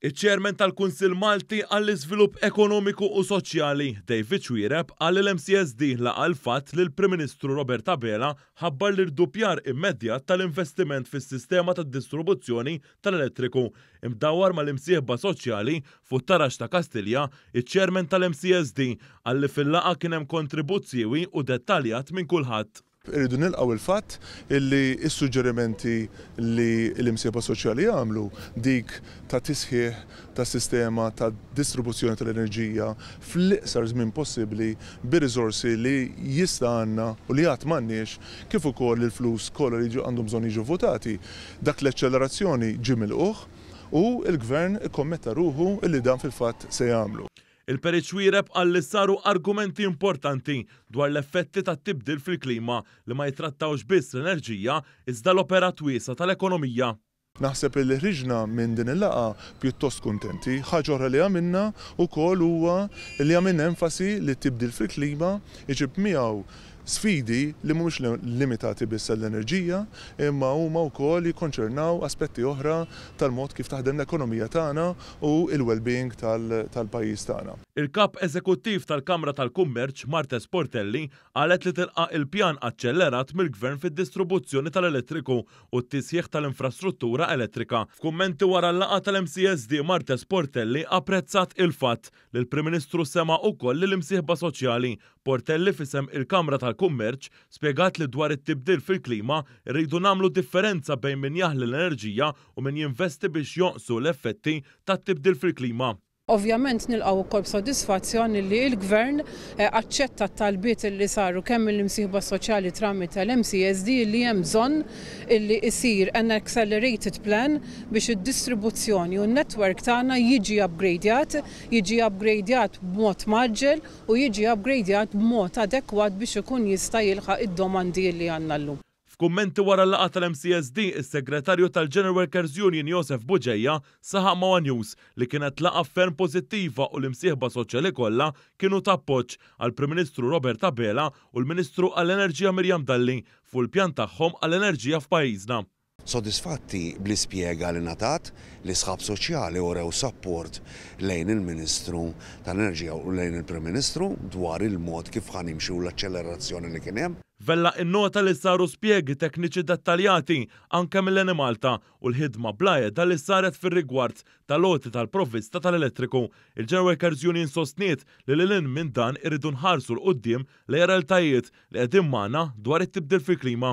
Iċ-Chairman tal-Kunsill Malti għall-Iżvilupp Ekonomiku u Soċjali, David Xuereb, qal li l-MCSD laqa' l-fatt li l-Prim Ministru Robert Abela ħabbar l-irduppjar immedjat tal-investiment fis-sistema tad-distrubuzzjoni tal-elettriku mdawwar mal-imsieħba soċjali fuq Tarax ta' Kastilja, iċ-Chairman tal-MCSD qal li fil-laqgħa kien hemm kontribut siewi u dettaljat minn kulħadd. Irridu nilqgħu l-fatt li s-suġġerimenti li l-imsieħba soċjali għamlu, dik ta' tisħiħ tas-sistema ta' distribuzzjoni tal-enerġija fl-iqsar żmien possibbli bir-riżorsi li jista' għandna u li għad m'għandniex, kif ukoll il-flus kollha li għandhom bżonn jiġu vvutati, dak l-eċċellerazzjoni ġie milqugħ u l-Gvern ikkommetta ruħu li dan fil-fatt se jagħmlu. Il-Perit Xuereb qal li saru argumenti importanti dwar l-effetti tat-tibdil fil-klima li ma jittrattawx biss l-enerġija iżda l-operat wiesa' tal-ekonomija. Naħseb li ħriġna minn din il-laqgħa pjuttost kuntenti. Ħaġa oħra li għamilna wkoll huwa li għamilna enfasi li t-tibdil fil-klima jġib miegħu Sfidi li mhumiex limitati biss għall-enerġija imma huma wkoll jikkonċernaw aspetti oħra tal-mod kif taħdem l-ekonomija tagħna u l-wellbeing tal-pajjiż tagħna. Il-Kap Eżekuttiv tal-Kamra tal-Kummerċ, Marthe Sportelli, qalet li tilqa' il-pjan aċċellerat mill-Gvern fid-distribuzzjoni tal-elettriku u t-tisħiħ tal-infrastruttura elettrika. F'kummenti wara l-laqgħa tal-MCSD Marthe Sportelli apprezzat il-fatt L-Prim Ministru sema' ukoll lill-imsieħba soċjali. Portelli f'isem il-Kamra tal-Kummerċ spjegat li dwar it-tibdil fil-klima rridu nagħmlu differenza bejn min jaħli l-enerġija u min jinvesti biex jonqsu l-effetti tat-tibdil fil-klima. Ovvjament nilqgħu wkoll b'sodisfazzjon li l-Gvern aċċetta t-talbiet li saru kemm mill-imsieħba soċjali tramite l-MCSD li hemm bżonn illi jsir an accelerated plan biex id-distribuzzjoni u n-network tagħna jiġi upgradjat, jiġi upgradjat b'mod mgħaġġel u jiġi upgradjat b'mod adekwat biex ikun jista' jilħaq id-domandi illi għandna llum. F'kummenti wara l-laqgħa tal-MCSD, is-Segretarju tal-General Workers Union Josef Bugeja saħaq ma' one News li kienet laqgħa ferm pożittiva u l-imsieħba soċjali kollha kienu ta' appoġġ għall-Prim Ministru Robert Abela u l-Ministru għall-Enerġija Miriam Dalli fuq il-pjan tagħhom għall-enerġija f'pajjiżna. Sodisfatti bl-ispjega li ngħatat, l-isħab soċjali urew sapport lejn il-Ministru tal-Enerġija u lejn il-Prim Ministru dwar il-mod kif ħa nimxu u l-aċċelerazzjoni li kien hemm. Vella innota li saru spjegi tekniċi dettaljati anke mill-Enemalta u l-ħidma bla għeda li saret fir-rigward tal-għoti tal-provvista tal-elettriku. Il-General Workers Union sostniet li lil hinn minn dan irridu nħarsu 'l quddiem lejn realtajiet li qegħdin magħna dwar it-tibdil fil-klima.